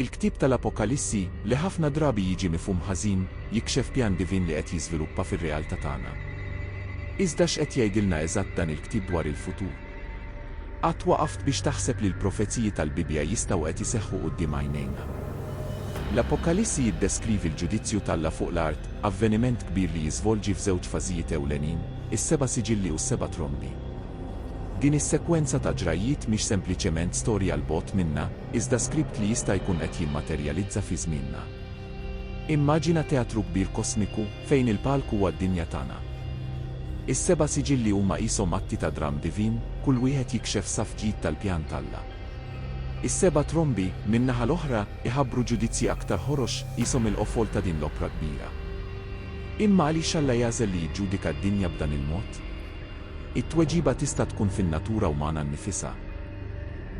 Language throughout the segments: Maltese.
Il-ktieb tal-Apokalissi, li ħafna drabi jiġi mifhum ħażin, jikxef pjan divin li qed jiżviluppa fir-realtà tagħna. Iżda x'qed jgħidilna eżatt dan il-ktieb dwar il-futur? Qatt waqaft biex taħseb li l-profeziji tal-Bibbja jistgħu qed iseħħu quddiem għajnejna? L-Apokalissi jiddeskrivi l-ġudizzju t'Alla fuq l-art, avveniment kbir li jiżvolġi f'żewġ fażijiet ewlenin, is-seba' siġilli u s-seba' trombi. Din is-sekwenza ta' ġrajjiet mhix sempliċement storja 'l bogħod minna, iżda skript li jista' jkun qed jimmaterjalizza fi żmienna. Immaġina teatru kbir kosmiku, fejn il-palk huwa d-dinja tagħna. Is-seba' siġilli huma qishom atti ta' dramm divin, kull wieħed jikxef saff ġdid tal-pjan t'Alla. Is-seba' trombi, min-naħa l-oħra, iħabbru ġudizzji aktar ħorox, qishom il-qofol ta' din l-opra kbira. Imma għaliex Alla jagħżel li jiġġudika d-dinja b'dan il-mod? It-tweġiba tista' tkun fin-natura umana nnifisha.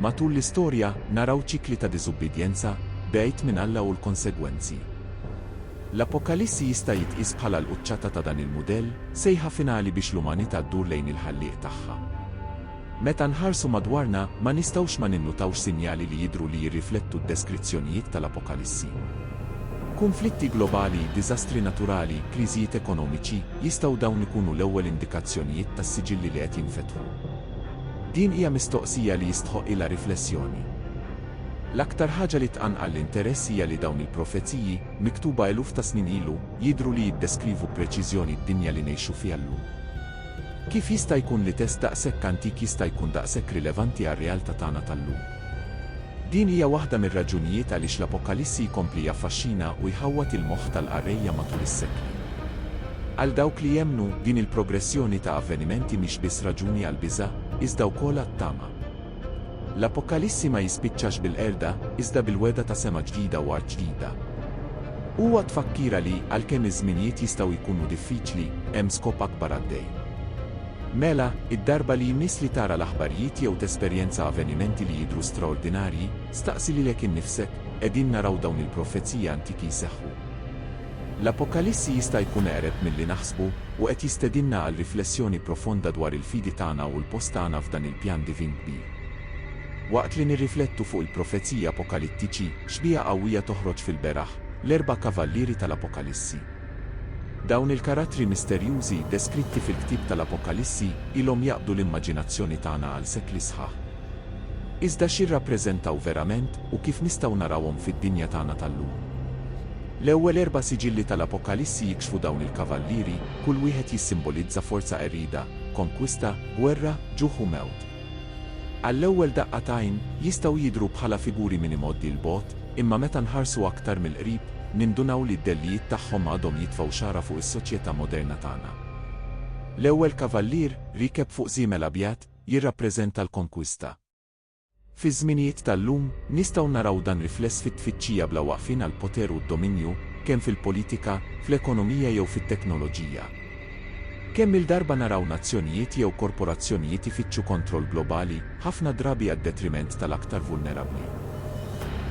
Matul l-istorja, naraw ċikli ta' diżubbidjenza, bgħid minn Alla u l-konsegwenzi. L-Apokalissi jista' jitqies bħala l-quċċata ta' dan il-mudell, sejħa finali biex l-umanità ddur lejn il-Ħallieq tagħha. Meta nħarsu madwarna, ma nistgħux ma ninnutawx sinjali li jidhru li jirriflettu d-deskrizzjonijiet tal-Apokalissi. Kunflitti globali, diżastri naturali, kriżijiet ekonomiċi, jistgħu dawn ikunu l-ewwel indikazzjonijiet tas-siġilli li qed jinfetħu? Din hija mistoqsija li jistħoqqilha riflessjoni. L-aktar ħaġa li tqanqal l-interess hija li dawn il-profeziji, miktuba eluf ta' snin ilu, jidhru li jiddeskrivu b'preċiżjoni d-dinja li ngħixu fiha llum. Kif jista' jkun li test daqshekk antik jista' jkun daqshekk rilevanti għar-realtà tagħna tal-lum? Din hija waħda mir-raġunijiet għaliex l-Apokalissi jkompli jaffaxxina u jħawwad il-moħħ tal-qarrejja matul is-sekli. Għal dawk li jemmnu, din il-progressjoni ta' avvenimenti mhix biss raġuni għall-biża', iżda wkoll għat-tama. L-Apokalissi ma jispiċċax bil-qerda, iżda bil-wegħda ta' sema ġdida u art ġdida. Huwa tfakkira li, għalkemm iż-żminijiet jistgħu jkunu diffiċli, hemm skop akbar għaddej. Mela, id-darba li jmiss li tara l-aħbarijiet jew tesperjenza avvenimenti li jidhru straordinarji, staqsi lilek innifsek, 'Qegħdin naraw dawn il-profeziji antiki jseħħu? L-Apokalissi jista' jkun eqreb milli naħsbu u qed jistedinna għal riflessjoni profonda dwar il-fidi tagħna u l-post tagħna f'dan il-pjan divin kbir. Waqt li nirriflettu fuq il-profeziji apokalittiċi, xbieha qawwija toħroġ fil-beraħ, l-erba' kavallieri tal-Apokalissi. Dawn il-karattri misterjużi, deskritti fil-ktieb tal-Apokalissi, ilhom jaqbdu l-immaġinazzjoni tagħna għal sekli sħaħ. Iżda x'jirrappreżentaw verament u kif nistgħu narawhom fid-dinja tagħna tal-lum? L-ewwel erba' siġilli tal-Apokalissi jikxfu dawn il-kavallieri, kull wieħed jissimbolizza forza qerrida, konkwista, gwerra, ġuħ u mewt. Għall-ewwel daqqa t'għajn, jistgħu jidhru bħala figuri minn imgħoddi 'l bogħod, imma meta nħarsu aktar mill-qrib, nindunaw li d-dellijiet tagħhom għadhom jitfgħu xagħra fuq is-soċjetà moderna tagħna. L-ewwel kavallier, riekeb fuq żiemel abjad, jirrappreżenta l-konkwista. Fiż-żminijiet tal-lum, nistgħu naraw dan rifless fit-tfittxija bla waqfien għall-poter u d-dominju, kemm fil-politika, fl-ekonomija jew fit-teknoloġija. Kemm-il darba naraw nazzjonijiet jew korporazzjonijiet ifittxu kontroll globali, ħafna drabi għad-detriment tal-aktar vulnerabbli.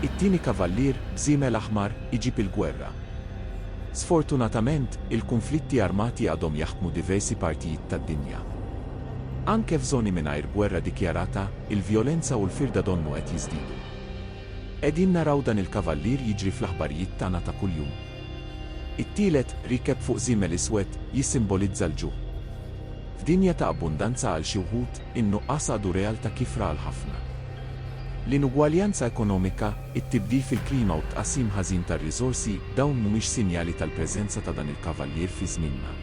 It-tieni kavallier, b'żiemel aħmar, iġib il-gwerra. Sfortunatament, il-kunflitti armati għadhom jaħkmu diversi partijiet tad-dinja. Anke f'żoni mingħajr gwerra dikjarata, il-vjolenza u l-firda donnu qed jiżdiedu. Qegħdin naraw dan il-kavallier jiġri fl-aħbarijiet tagħna ta' kuljum. It-tielet, riekeb fuq żiemel iswed, jissimbolizza l-ġuħ. F'dinja ta' abbundanza għal xi wħud, in-nuqqas għadu realtà kiefra għal ħafna. L-inugwaljanza ekonomika, it-tibdil fil-klima u t-tqassim ħażin tar-riżorsi, dawn mhumiex sinjali tal-preżenza ta' dan il-kavallier fi żmienna?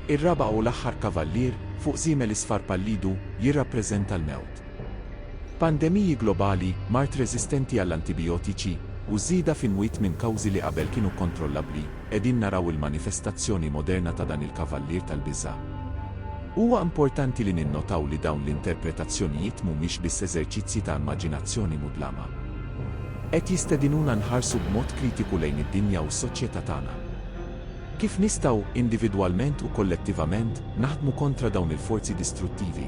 Ir-raba' u l-aħħar kavallier fuq żiemel isfar pallidu jirrappreżenta l-mewt. Pandemiji globali, mard reżistenti għall-antibijotiċi, u żieda f'imwiet minn kawżi li qabel kienu kkontrollabbli, qegħdin naraw il-manifestazzjoni moderna ta' dan il-kavallier tal-biża'. Huwa importanti li ninnotaw li dawn l-interpretazzjonijiet mhumiex biss eżerċizzji ta' immaġinazzjoni mudlama. Qed jistedinuna nħarsu b'mod kritiku lejn id-dinja u s-soċjetà tagħna. Kif nistgħu, individwalment u kollettivament, naħdmu kontra dawn il-forzi distruttivi?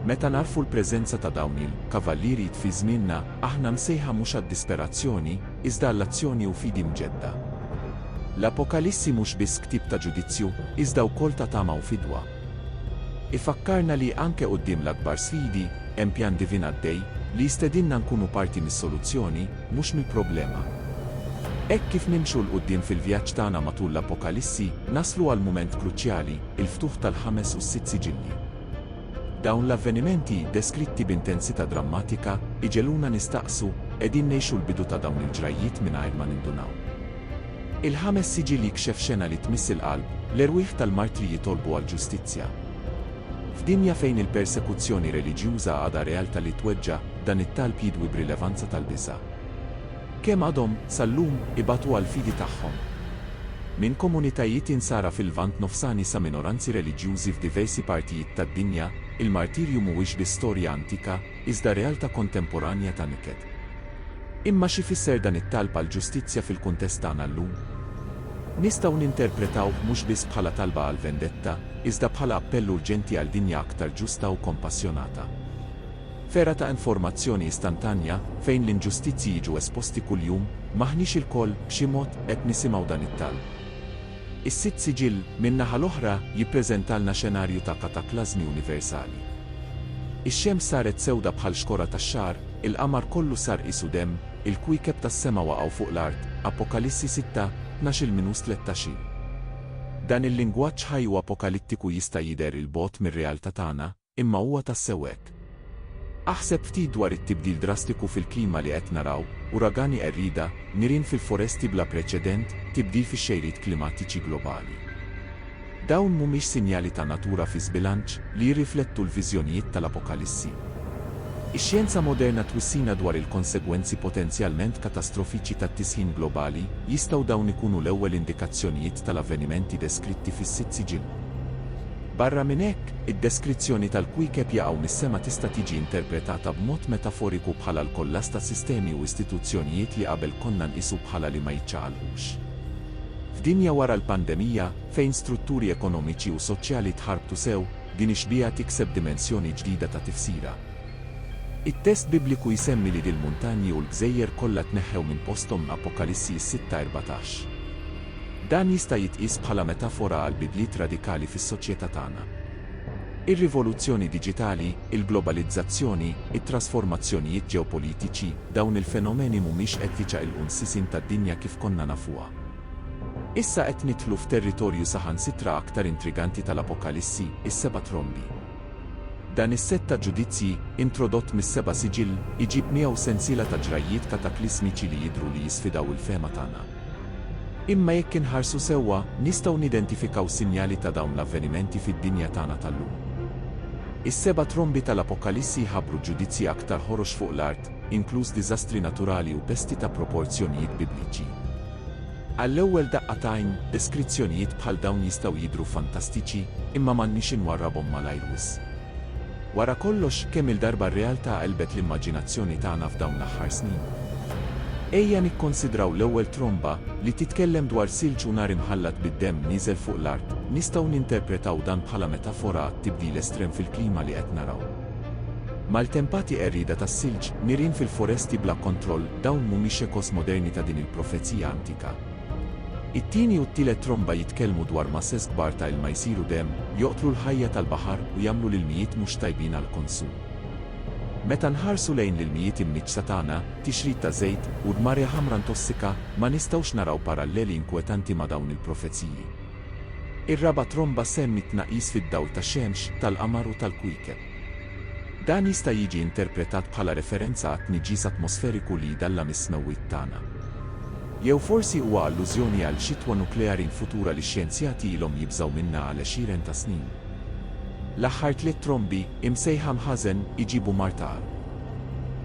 Meta nagħrfu l-preżenza ta' dawn il, kavallieri tfi żmienna, aħna msejħa mhux għad-disperazzjoni, iżda għall-azzjoni u fidi mġedda. L-Apokalissi mhux biss ktieb ta' ġudizzju, iżda wkoll ta' tama u fidwa. Ifakkarna li, anke quddiem l-akbar sfidi, hemm pjan divin għaddej, li jistedinna nkunu parti mis-soluzzjoni, Mhux mill-problema. Hekk kif nimxu 'l quddiem fil-vjaġġ tagħna matul l-Apokalissi, naslu għal mument kruċjali, il-ftuħ tal-ħames u s-sitt siġilli. Dawn l-avvenimenti, deskritti b'intensità drammatika, iġegħluna nistaqsu, Qegħdin ngħixu l-bidu ta' dawn il-ġrajjiet mingħajr ma nindunaw? Il-ħames siġill jikxef xena li tmiss il-qalb, l-erwieħ tal-martri jitolbu għall-ġustizzja. F'dinja fejn il-persekuzzjoni reliġjuża għadha realtà li tweġġa', dan it-talb jidwi b'rilevanza tal-biża'. Kemm għadhom, sal-lum, ibatu għall-fidi tagħhom? Minn komunitajiet Insara fil-Lvant Nofsani sa minoranzi reliġjużi f'diversi partijiet tad-dinja, il-martirju mhuwiex biss storja antika, iżda realtà kontemporanja ta' niket. Imma x'ifisser dan it-talb għall-ġustizzja fil-kuntest tagħna llum? Nistgħu ninterpretawh mhux biss bħala talba għall-vendetta, iżda bħala appell urġenti għal dinja aktar ġusta u kompassjonata. F'era ta' informazzjoni istantanja, fejn l-inġustizzji jiġu esposti kuljum, m'aħniex ilkoll, b'xi mod, qed nisimgħu dan it-talb? Is-Sitt Siġill, min-naħa l-oħra, jippreżentalna xenarju ta' kataklażmi universali. Ix-xemx saret sewda bħal xkora tax-xagħar, il-qamar kollu sar qisu demm, il-kwiekeb tas-sema waqgħu fuq l-art, Apokalissi sitta, tnax-il minus tlettax-in. Dan il-lingwaġġ ħaj u apokalittiku jista' jidher 'il bogħod mir-realtà tagħna, Imma huwa tassew hekk? Aħseb ftit dwar it-tibdil drastiku fil-klima li qed naraw, uragani qerrieda, nirien fil-foresti bla preċedent, tibdil fix-xejriet klimatiċi globali. Dawn mhumiex sinjali ta' natura fi żbilanċ, li jirriflettu l-viżjonijiet tal-Apokalissi? Ix-xjenza moderna twissina dwar il-konsegwenzi potenzjalment katastrofiċi tat-tisħin globali, jistgħu dawn ikunu l-ewwel indikazzjonijiet tal-avvenimenti deskritti fis-sitt siġilli? Barra minn hekk, id-deskrizzjoni tal-kwiekeb jaqgħu mis-sema tista' tiġi interpretata b'mod metaforiku bħala l-kollass ta' sistemi u istituzzjonijiet li qabel konna nqisu bħala li ma jiċċaqalqux. F'dinja wara l-pandemija, fejn strutturi ekonomiċi u soċjali tħarbtu sew, din ix-xbieha tikseb dimensjoni ġdida ta' tifsira. It-test Bibliku jsemmi li dil-muntanji u l-gżejjer kollha tneħħew minn posthom, Apokalissi s-sitta erbatax. Dan jista' jitqies bħala metafora għall-bidliet radikali fis-soċjetà tagħna. Ir-rivoluzzjoni diġitali, il-globalizzazzjoni, it-trasformazzjonijiet ġeopolitiċi, dawn il-fenomeni mhumiex qed jiċaqilqu n-sisin tad-dinja kif konna nafuha. Issa qed nidħlu f'territorju saħansitra aktar intriganti tal-Apokalissi, is-seba' trombi. Dan is-sett ta' ġudizzji, introdott mis-seba' siġill, iġib miegħu sensiela ta' ġrajjiet kataklismiċi li jidhru li jisfidaw il-fehma tagħna. Imma jekk inħarsu sewwa, nistgħu nidentifikaw sinjali ta' dawn l-avvenimenti fid-dinja tagħna tal-lum. Is-seba' trombi tal-Apokalissi jħabbru ġudizzji aktar ħorox fuq l-art, inkluż diżastri naturali u pesti ta' proporzjonijiet Bibliċi. Għall-ewwel daqqa t'għajn, deskrizzjonijiet bħal dawn jistgħu jidhru fantastiċi, imma m'għandniex inwarrabhom malajr wisq. Wara kollox, kemm-il darba r-realtà qelbet l-immaġinazzjoni tagħna f'dawn l-aħħar snin? Ejja nikkonsidraw l-ewwel tromba, li titkellem dwar silġ u nar imħallat bid-demm nieżel fuq l-art. Nistgħu ninterpretaw dan bħala metafora għat-tibdil estrem fil-klima li qed naraw. Maltempati qerrieda tas-silġ, nirien fil-foresti bla kontroll, dawn mhumiex echoes moderni ta' din il-profezija antika. It-tieni u t-tielet tromba jitkellmu dwar masses kbar ta' ilma jsiru demm, joqtlu l-ħajja tal-baħar u jagħmlu l-ilmijiet mhux tajbin għall-konsum. Meta nħarsu lejn l-ilmijiet imniġġsa tagħna, tixrid ta' żejt, u dmarja ħamra ntossika, ma nistgħux naraw paralleli inkwetanti ma' dawn il-profeziji. Ir-raba' tromba ssemmi t-tnaqqis fid-dawl tax-xemx, tal-qamar u tal-kwiekeb. Dan jista' jiġi interpretat bħala referenza għat-tniġġis atmosferiku li jdallam is-smewwiet tagħna. Jew forsi huwa allużjoni għal xitwa nukleari l-futura li x-xjenzjati ilhom jibżgħu minnha għal għexieren ta' snin. L-aħħar tliet trombi, imsejħa mħażen, iġibu mar ta' għarq.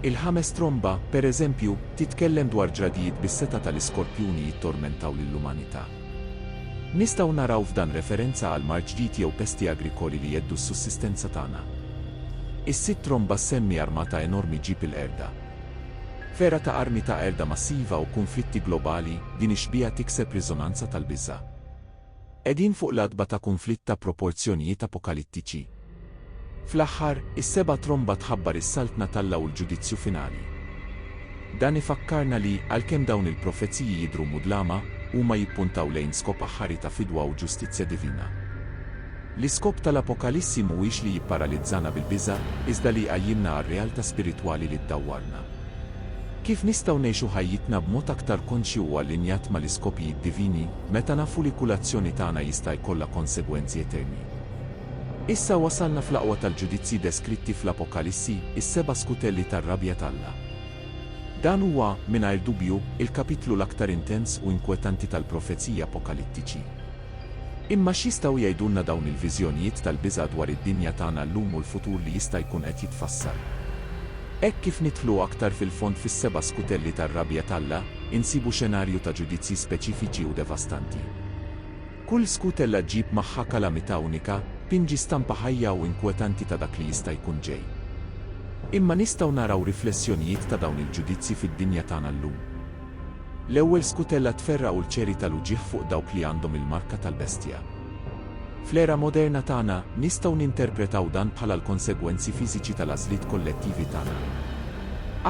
Il-ħames tromba, pereżempju, titkellem dwar ġradijiet bis-setgħa ta' l-iskorpjuni jittormentaw lill-umanità. Nistgħu naraw f'dan referenza għal mard ġdid jew pesti agrikoli li jheddu s-sussistenza tagħna. Is-sid Tromba ssemmi armata enormi ġġib il-qerda. F'era ta' armi ta' qerda massiva u kunflitti globali, din ix-xbieha tikseb riżonanza tal-biża'. Qegħdin fuq l-għatba ta' kunflitt ta' proporzjonijiet apokalittiċi. Fl-aħħar, is-seba' tromba tħabbar is-Saltna t'Alla u l-ġudizzju finali. Dan ifakkarna li, għalkemm dawn il-profeziji jidhru mudlama, huma jippuntaw lejn skop aħħari ta' fidwa u ġustizzja divina. L-iskop tal-Apokalissi mhuwiex li jipparalizzana bil-biża', iżda li jqajjimna għar-realtà spiritwali li ddawwarna. Kif nistgħu ngħixu ħajjitna b'mod aktar konxju u allinjat mal-iskopijiet divini, meta nafu li kull azzjoni tagħna jista' jkollha konsegwenzi eterni? Issa wasalna fl-aqwa tal-ġudizzji deskritti fl-Apokalissi, is-seba' skutelli tar-rabja t'Alla. Dan huwa, mingħajr dubju, il-kapitlu l-aktar intens u inkwetanti tal-profeziji apokalittiċi. Imma x'jistgħu jgħidulna dawn il-viżjonijiet tal-biża' dwar id-dinja tagħna llum u l-futur li jista' jkun qed jitfassal? Hekk kif nidħlu aktar fil-fond fis-seba' skutelli tar-rabja t'Alla, insibu xenarju ta' ġudizzji speċifiċi u devastanti. Kull skutella ġġib magħha kalamità unika, tpinġi stampa ħajja u inkwetanti ta' dak li jista' jkun ġej. Imma nistgħu naraw riflessjonijiet ta' dawn il-ġudizzji fid-dinja tagħna llum. L-ewwel skutella tferra' ulċeri tal-uġigħ fuq dawk li għandhom il-marka tal-bestja. Fl-era moderna tagħna, nistgħu ninterpretaw dan bħala l-konsegwenzi fiżiċi tal-għażliet kollettivi tagħna.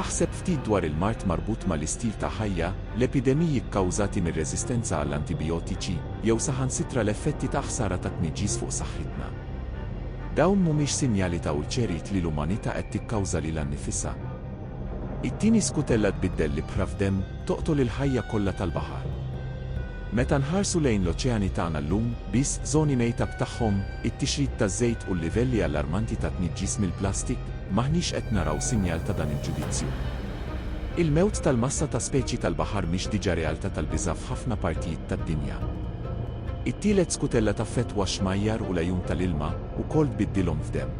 Aħseb ftit dwar il-mard marbut mal-istil ta' ħajja, l-epidemiji kkawżati mir-reżistenza għall-antibijotiċi, jew saħansitra l-effetti ta' ħsara tat-tniġġis fuq saħħitna. Dawn mhumiex sinjali ta' ulċeriet li l-umanità qed tikkawża lilha nnifisha. It-tieni skutella tbiddel l-ibħra f'demm, toqtol il-ħajja kollha tal-baħar. Meta nħarsu lejn l-oċeani tagħna llum, biss żoni mejta b'tagħhom, it-tixrid taż-żejt u l-livelli allarmanti ta' tniġġis mill-plastik, m'aħniex qed naraw sinjal ta' dan il-ġudizzju. Il-mewt tal-massa ta' speċi tal-baħar mhix diġà realtà tal-biża' f'ħafna partijiet tad-dinja. It-tielet skutella taffettwa x-xmajjar u l-għajun tal-ilma, ukoll tbiddilhom f'demm.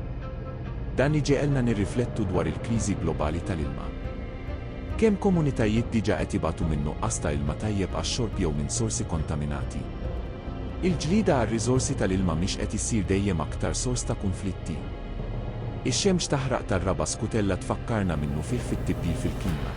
Dan iġegħelna nirriflettu dwar il-kriżi globali tal-ilma. Kemm komunitajiet diġà qed jibgħatu minn nuqqas ta' ilma tajjeb għax-xorb jew minn sorsi kontaminati. Il-ġlieda għar-riżorsi tal-ilma mhix qed issir dejjem aktar sors ta' kunflitti? Ix-xemx taħraq tar-raba' skutella tfakkarna minnufih fit-tibdil fil-klima.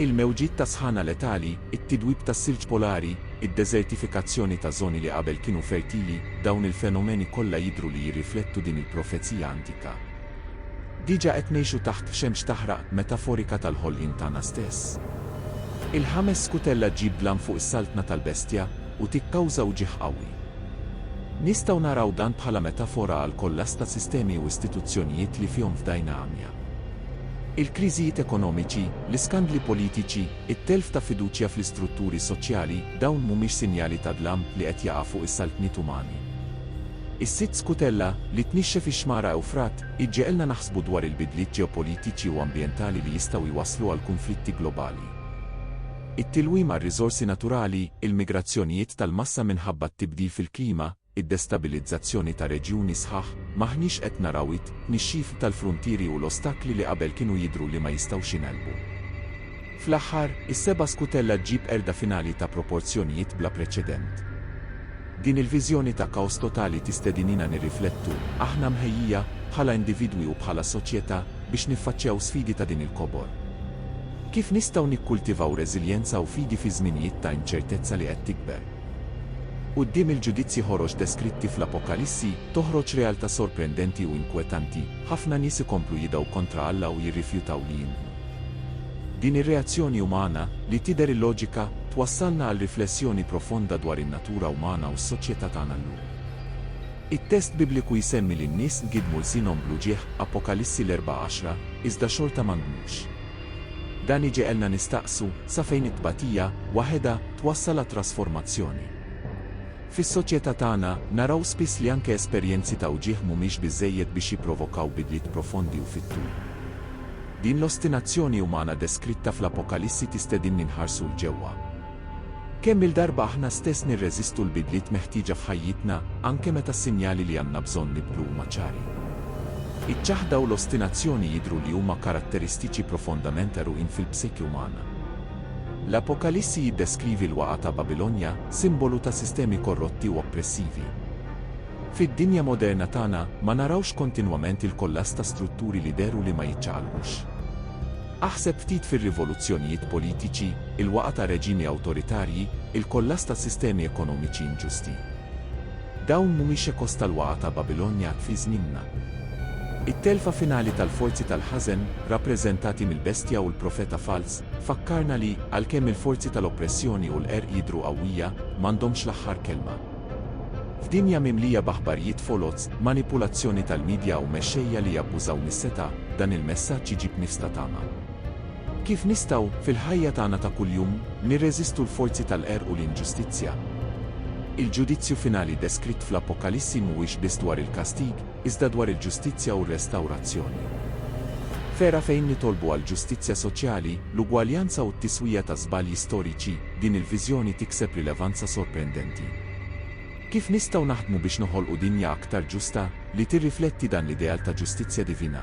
Il-mewġiet ta' sħana letali, it-tidwib tas-silġ polari, id-deżertifikazzjoni ta' żoni li qabel kienu fertili, dawn il-fenomeni kollha jidhru li jirriflettu din il-profezija antika. Diġà qed ngħixu taħt xemx taħraq metaforika tal-ħolqien tagħna stess. Il-ħames skutella ġġib dlam fuq is-saltna tal-bestja u tikkawża uġigħ qawwi. Nistgħu naraw dan bħala metafora għall-kollass ta' sistemi u istituzzjonijiet li fihom fdajna għamja. Il-kriżijiet ekonomiċi, l-iskandli politiċi, it-telf ta' fiduċja fl-istrutturi soċjali, dawn mhumiex sinjali ta' dlam li qed jaqa' fuq is-saltniet umani? Is-sitt skutella, li tnixxef ix-xmara Ewfrat, iġġegħelna naħsbu dwar il-bidliet ġeopolitiċi u ambjentali li jistgħu jwasslu għal kunflitti globali. it-tilwim għar-riżorsi naturali, il-migrazzjonijiet tal-massa minħabba t-tibdil fil-klima, id-destabilizzazzjoni ta' reġjuni sħaħ, m'aħniex qed naraw it-tnixxif tal-fruntieri u l-ostakli li qabel kienu jidhru li ma jistgħux jingħelbu. Fl-aħħar, is-seba' skutella ġġib qerda finali ta' proporzjonijiet bla preċedent. Din il-viżjoni ta' kaos totali tistedinina nirriflettu, aħna mħejjija, bħala individwi u bħala soċjetà, biex niffaċċjaw sfidi ta' din il-kobor? Kif nistgħu nikkultivaw reżiljenza u fidi fi żminijiet ta' inċertezza li qed tikber? Quddiem il-ġudizzji ħorox deskritti fl-Apokalissi, toħroġ realtà sorprendenti u inkwetanti, ħafna nies ikomplu jidgħu kontra Alla u jirrifjutaw li jiemnu. Din ir-reazzjoni umana, li tidher illoġika, twassalna għal riflessjoni profonda dwar in-natura umana u s-soċjetà tagħna llum. It-test Bibliku jsemmi li n-nies ngidmu lsinhom bl-uġigħ, Apokalissi l-erbgħa għaxra, iżda xorta ma ngmux. Dan iġegħelna nistaqsu sa fejn it-tbatija, waħedha, twassal għat-trasformazzjoni. Fis-soċjetà tagħna, naraw spiss li anke esperjenzi ta' uġigħ mhumiex biżżejjed biex jipprovokaw bidliet profondi u fit-tul. Din l-ostinazzjoni umana deskritta fl-Apokalissi tistedinni nħarsu 'l ġewwa. Kemm-il darba aħna stess nirreżistu l-bidliet meħtieġa f'ħajjitna, anke meta s-sinjali li għandna bżonn nibdlu huma ċari? Iċ-ċaħda u l-ostinazzjoni jidhru li huma karatteristiċi profondament għeruqin fil-psiki umana. L-Apokalissi jiddeskrivi l-waqgħa ta' Babilonja, simbolu ta' sistemi korrotti u oppressivi. Fid-dinja moderna tagħna, ma narawx kontinwament il-kollass ta' strutturi li dehru li ma jiċċaqalqux? Aħseb ftit fir-rivoluzzjonijiet politiċi, il-waqgħa ta' reġimi awtoritarji, il-kollass ta' sistemi ekonomiċi inġusti. Dawn mhumiex ekos tal-waqgħa ta' Babilonja fi żmienna. It-telfa finali tal-forzi tal-ħażen, rappreżentati mill-bestja u l-profeta falz, tfakkarna li, għalkemm il-forzi tal-oppressjoni u l-qerq jidhru qawwija, m'għandhomx l-aħħar kelma. F'dinja mimlija b'aħbarjiet foloz, manipulazzjoni tal-midja u mexxejja li jabbużaw mis-setgħa, dan il-messaġġ iġib nifs ta' tama. Kif nistgħu, fil-ħajja tagħna ta' kuljum, nirreżistu l-forzi tal-qerq u l-inġustizzja? Il-ġudizzju finali deskritt fl-Appokalissi mhuwiex biss dwar il-kastig, iżda dwar il-ġustizzja u r-restawrazzjoni. F'era fejn nitolbu għal ġustizzja soċjali, l-ugwaljanza u t-tiswija ta' żbalji storiċi, din il-viżjoni tikseb rilevanza sorprendenti. Kif nistgħu naħdmu biex noħolqu dinja aktar ġusta, li tirrifletti dan l-ideal ta' ġustizzja divina?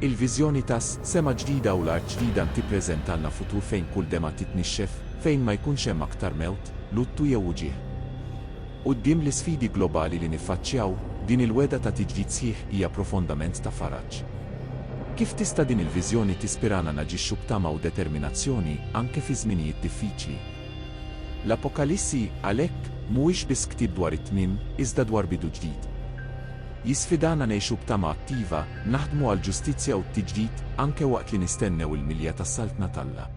Il-viżjoni tas, sema ġdida u l-art ġdida ntipreżentalna futur fejn kull demgħa titnixxef, fejn ma jkunx hemm aktar mewt, luttu jew uġigħ. Quddiem l-isfidi globali li niffaċċjaw, din il-wegħda ta' tiġdid sħiħ hija profondament ta' faraġ. Kif tista' din il-viżjoni tispirana naġixxu b'tama u determinazzjoni anke fi żminijiet diffiċli? L-Apokalissi, għalhekk, mhuwiex biss ktieb dwar it-tmiem, iżda dwar bidu ġdid. Jisfidana ngħixu b'tama attiva, naħdmu għall-ġustizzja u t-tiġdid, anke waqt li nistennew il-milja tas-Saltna t'Alla.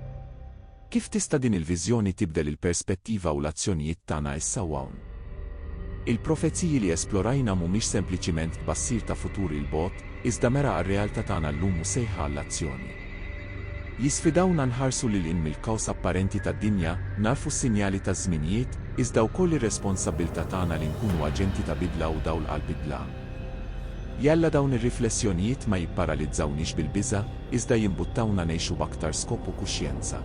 Kif tista' din il-viżjoni tibdel il-perspettiva u l-azzjonijiet tagħna issa u hawn? Il-profeziji li esplorajna mhumiex sempliċiment tbassir ta' futur 'il bogħod, iżda mera għar-realtà tagħna llum u sejħa għall-azzjoni. Jisfidawna nħarsu lil hinn mill-kaos apparenti tad-dinja, nagħrfu s-sinjali taż-żminijiet, iżda wkoll ir-responsabbiltà tagħna li nkunu aġenti ta' bidla u dawl għall-bidla. Jalla dawn ir-riflessjonijiet ma jipparalizzawniex bil-biża', iżda jimbuttawna ngħixu b'aktar skop u kuxjenza.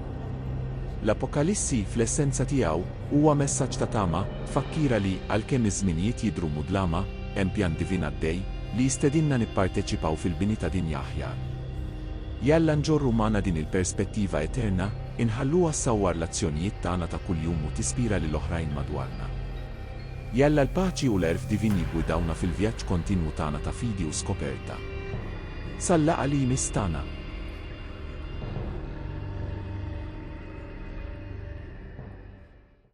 L-Apokalissi, fl-essenza tiegħu, huwa messaġġ ta' tama, tfakkira li, għalkemm iż-żminijiet jidhru mudlama, hemm pjan divin għaddej, li jistedinna nipparteċipaw fil-bini ta' dinja aħjar. Jalla nġorru magħna din il-perspettiva eterna, inħalluha ssawwar l-azzjonijiet tagħna ta' kuljum u tispira lil oħrajn madwarna. Jalla l-paċi u l-għerf divin jiggwidawna fil-vjaġġ kontinwu tagħna ta' fidi u skoperta. Sal-laqgħa li jmiss tagħna.